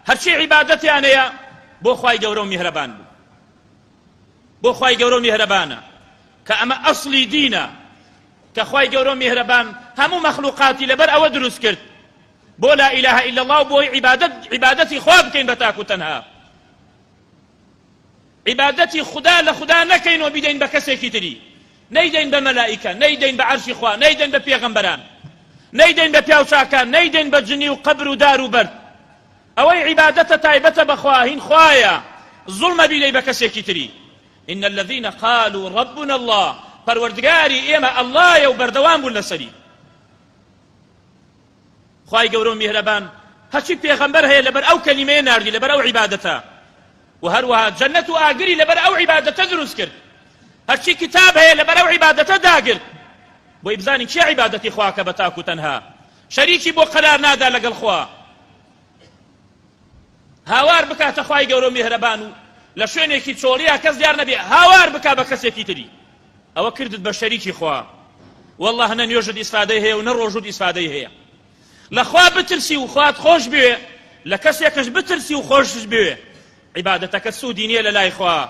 هەرچی عیبادەتیان هەیە بۆ خوای گەورە و میهرەبان بوو بۆ خوای گەورە و میهرەبانە کە ئەمە ئەسڵی دینە کە خوای گەورە و میهرەبان هەموو مەخلوقاتی لەبەر ئەوە دروست کرد بۆ لا ئیلاهە ئیلا الله و بۆی عیبادەت عیبادەتی خوا بکەین بە تاک و تەنها عیبادەتی خودا لە خودا نەکەین و بیدەین بە کەسێکی تری، نەیدەین بە مەلائیکە، نەیدەین بە عەرشی خوا، نەیدەین بە پێغەمبەران، نەیدەین بە پیاو چاکان، نەیدەین بە جنی و قەبر و دار و بەرد. ئەوەی عیبادەتە تایبەتە بە خوا، هین خوایە، زوڵمە بیدەی بە کەسێکی تری. ان الذین قالوا ربنا اللە، پەروەردگاری ئێمە اللە یە و بەردەوام بوون لەسەری. خوای گەورە و میهرەبان هەرچی پێغەمبەر هەیە لەبەر ئەو کەلیمەیە ناردی لەبەر ئەو عیبادەتە و هەروەها جەنەت و ئاگری لەبەر ئەو عیبادەتە دروست کرد هەرچی کتاب هەیە لەبەر ئەو عیبادەتە داگرت بۆی بزانین چی عیبادەتی خواکە بە تاک و تەنها شەریکی بۆ قەرار نادا لەگەڵ خوا هاوار بکاتە خوای گەورە و میهرەبان و لە شوێنێکی چۆڵیا کەس دیار نەبێ هاوار بکا بە کەسێکی تری ئەوە کردت بە شەریکی خوا والله نە نوێژت ئیسفادەی هەیە و نە ڕۆژوت ئیسفادەی هەیە لە خوا بترسی و خوات خۆش بوێ لە کەسێکش بترسی و خۆشش بوێ عیبادەتەکە سوودی نییە لە لای خوا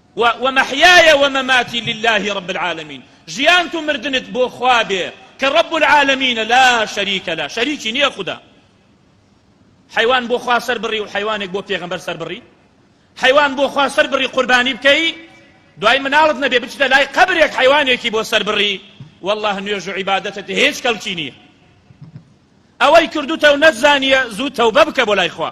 و و محیای و مماتی للە رب العالمین ژیانت و مردنت بۆ خوا بێ کە رب العالمینە لا شریک لە شەریکی نیە خودا حەیوان بۆ خوا سەر بڕی و حەیوانێک بۆ پێغەمبەر سەر بڕی حەیوان بۆ خوا سەر بڕی قوربانی بکەی دوای مناڵت نەبێ بچتە لای قەبرێک حیوانێکی بۆ سەربڕی والله نوێژ و عیبادەتت هیچ کەڵکی نییە ئەوەی کردوتە و نەتزانیە زوو تەوبە بکە بۆ لای خوا